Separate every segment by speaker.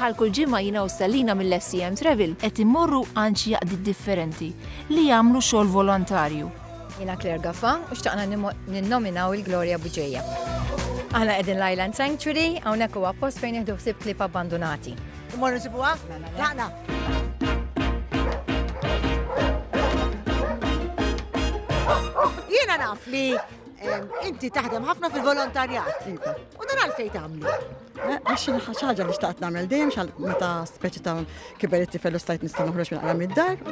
Speaker 1: Bħal kull ġimgħa jiena u Stellina mill-SCM Travel qed immorru għand xi jaqdiet differenti li jagħmlu xogħol volontarju. Jiena Claire Gaffa u xtaqna ninnominaw il-Gloria Buġeja. Aħna qegħdin l-Island Sanctuary, hawnhekk huwa post fejn jieħdu ħsieb klip abbandunati. Immorru nsibuha? Laqna. Jiena naf li Inti taħdem ħafna fil-volontarjat. Iva. U dan għalfej tagħmlu? Eh, għax ħaġa li xtaqt nagħmel dejjem xal meta speċi ta' kiberetti fellu stajt nista' noħroġ minn qara mid-dar.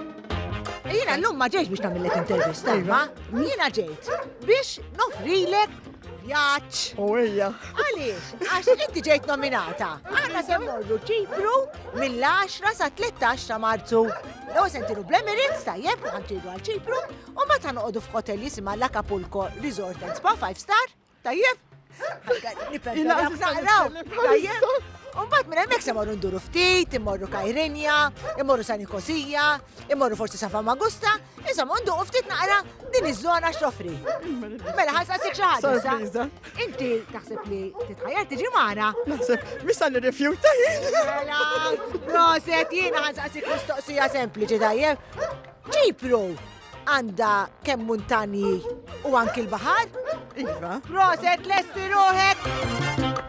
Speaker 1: Jiena llum ma ġejx biex nagħmillek intervista, iva. ma jiena ġejt biex nofrilek vjaġġ. U hija. Għaliex, għax inti ġejt nominata. Aħna se morru ċipru mill-10 sa 13 ta' Marzu. Lew sentiru bl-Emirates tajjeb ħantidu għal ċipru U meta noqogħdu f'hotel jisimha l-Acapulco Resort and Spa 5 Star, tajjeb? Umbat minn hemmhekk se morru nduru ftit, immorru Kajrinja, immorru San Nikosija, immorru forsi Safa Magusta, insomma nduqu ftit naqra din iż-żona x'toffri. Mela ħassa sik xi ħaġa. Inti taħseb li titħajjar tiġi magħna? Naħseb misa li rifjuta. Mela, proset jiena ħassa sik mistoqsija sempliċi tajjeb. Ċipru għandha kemm muntanji u anki l-baħar? Iva. Proset lesti ruħek!